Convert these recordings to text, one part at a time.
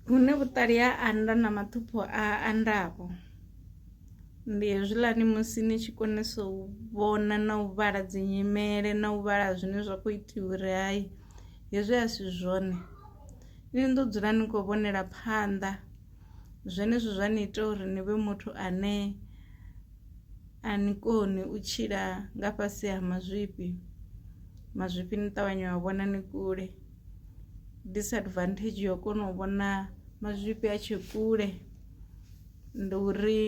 Hune vhuṱali ha anda na maṱhupho a andaho ndi hezwiḽani musi ni tshi konesa u vhona na u vhala dzi nyimele na u vhala zwine zwa kho itiwa uri hai hezwi a si zwone ni ḓo dzula ni kho vhonela phanḓa. Zwenezwo zwa ni ita uri ni vhe muthu ane a ni koni u tshila nga fhasi ha mazwifhi, mazwifhi ni ṱavhanya wa vhona ni kule. disadvantage yo kona u vhona mazwifhi a tshe kule ndi uri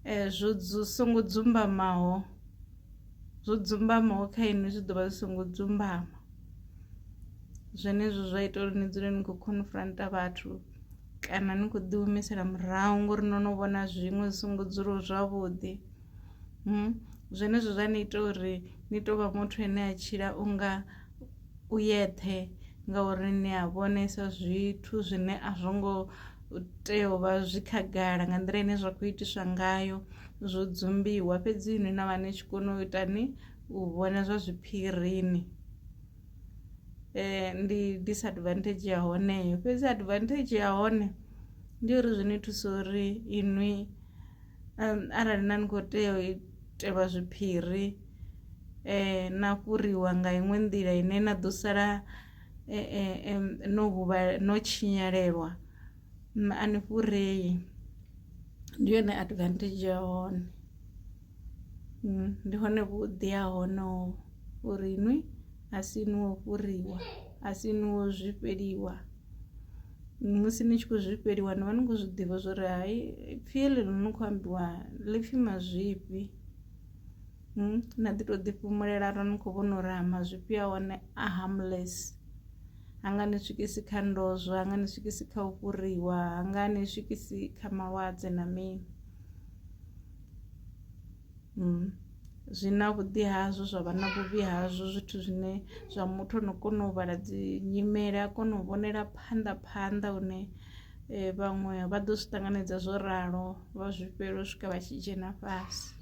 eh, zwo songo dzumbamaho zwo dzumbamaho kha inwi zwi ḓo vha zwi songo dzumbama zwenezwo zwa ita uri ni dzule ni khou confronta vhathu kana ni khou ḓihumisela murahu ngori no no vhona zwiṅwe zwi songo dzulaho zwavhuḓi hmm? zwenezwo zwa ni ita uri ni tou vha muthu ane a tshila unga u yeṱhe ngauri ni a vhonesa zwithu zwine a zwo ngo tea u vha zwi khagala nga nḓila ine zwa kho itiswa ngayo zwo dzumbiwa fhedzi ni na vha ni tshi kona u ita ni u vhona zwa zwiphirini ndi disadvantage ya hone heyo fhedzi advantage ya hone ndi uri zwi ni thusa uri inwi arali na ni kho tea u itelwa zwiphiri. na fhuriwa nga iṅwe nḓila ine na ḓo sala no huvhala no tshinyalelwa a ni fhurei ndi yone advantage ya hone ndi hone vhuḓi ha hone ho uri nwi a si inwi wo fhuriwa a si inwi wo zwifheliwa musi ni tshi khou zwifheliwa ni vha ni khou zwiḓivha zwori hai pfhi heḽi ḽi no kho ambiwa ḽipfhi mazwifhi. na ḓi to ḓi fhumulela arali ni kho vhona uri ha mazwifhi a hone a harmless ha nga ni swikisi kha ndozwo nga ni swikisi kha u fhuriwa ha nga ni swikisi kha malwadze na mini. Zwi na vhuḓi hazwo zwa vha na vhuvhi hazwo zwithu zwine zwa muthu ano kona u vhala dzi nyimele a kona u vhonela phanḓa phanḓa hune vhaṅwe vha ḓo zwi ṱanganedza zwo ralo vha zwifhela u swika vha tshi dzhena fhasi.